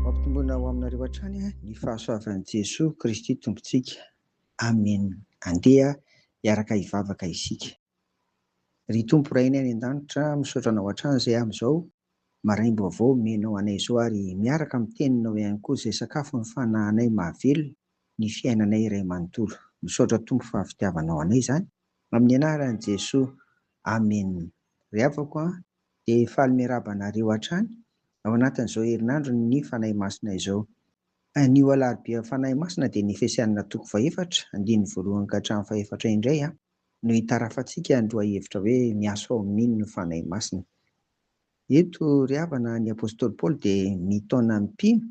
Mampitombona ho aminareo hatrany ny fahasoavan'i Jesoa Kristy Tompontsika. Amen. Andeha hiaraka hivavaka isika. Ry Tompo Rainay any an-danitra, misaotra Anao hatrany izay amin'izao maraim-baovao omenao anay izao ary miaraka amin'ny Teninao ihany koa izay sakafon'ny fanahinay mahavelona ny fiainanay iray manontolo. Misaotra Tompo fa fitiavanao anay izany. Amin'ny anaran'i Jesoa Amen. Ry havako an, dia faly miarahaba anareo hatrany ao anatin'izao herinandron'ny Fanahy Masina izao. Anio alarobia Fanahy Masina dia ny Efesianina toko fahefatra, andininy voalohany ka hatramin'ny fahefatra indray an, no hitarafantsika ny lohahevitra hoe miasa ao amin'Iny ny Fanahy Masina. Eto ry havana ny Apostoly Paoly dia mitaona ny mpino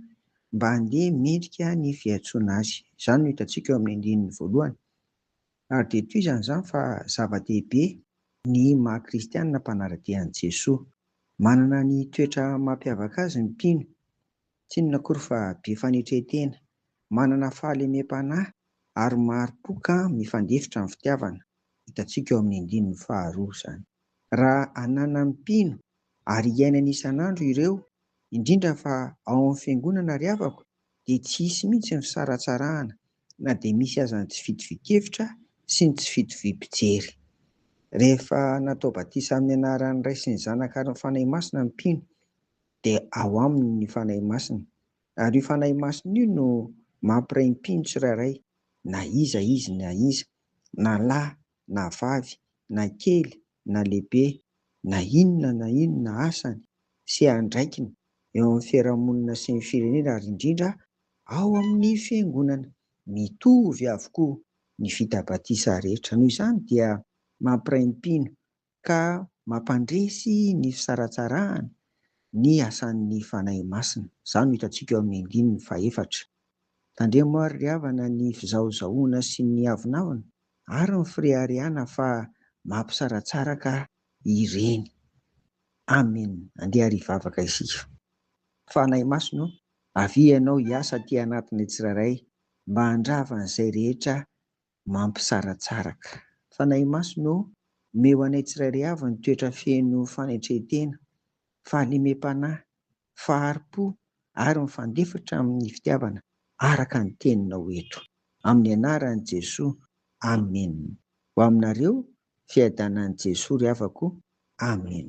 mba handeha mendrika ny fiantsoana azy. Izany no hitantsika eo amin'ny andininy voalohany. Ary dia tohizany izany fa zava-dehibe ny maha kristianina mpanara-dia an'i Jesoa. Manana ny toetra mampiavaka azy ny mpino, tsy inona akory fa be fanetren-tena, manana fahalemem-panahy ary mari-po ka mifandefitra ny fitiavana, hitantsika eo amin'ny andininy faharoa izany. Raha ananan'ny mpino ary iainany isan'andro ireo, indrindra fa ao amin'ny fiangonana ry havako, dia tsy hisy mihitsy ny fisaratsarahana na dia misy aza ny tsy fitovian-kevitra sy ny tsy fitoviam-pijery. Rehefa natao batisa amin'ny anaran'ny Ray sy ny Zanaka ary ny Fanahy Masina ny mpino, dia ao aminy ny Fanahy Masina, ary io Fanahy Masina io no mampiray ny mpino tsirairay, na iza izy na iza, na lahy na vavy, na kely na lehibe na inona na inona asany sy andraikiny eo amin'ny fiarahamonina sy ny firenena ary indrindra ao amin'ny fiangonana. Mitovy avokoa ny vita batisa rehetra. Noho izany dia mampiray ny mpino ka mampandresy ny fisaratsarahana ny asan'ny Fanahy Masina. Izany no hitantsika eo amin'ny andininy fahefatra. Tandremo ary ry havana ny fizahozahoana sy ny avonavona. Ary ny Freariana fa mampisaratsara ka ireny. Amen andeha ary hivavaka isika. Fanahy Masina o, avia Ianao hiasa aty anatinay tsirairay mba handrava an'izay rehetra mampisaratsaraka. Fanahy Masina o, omeo anay tsirairay avy ny toetra feno fanetren-tena, fahalemem-panahy, fahari-po ary mifandefitra amin'ny fitiavana araka ny teninao eto. Amin'ny anaran'i Jesoa, Amen. Ho aminareo fiadanan'i Jesoa ry havako, Amen.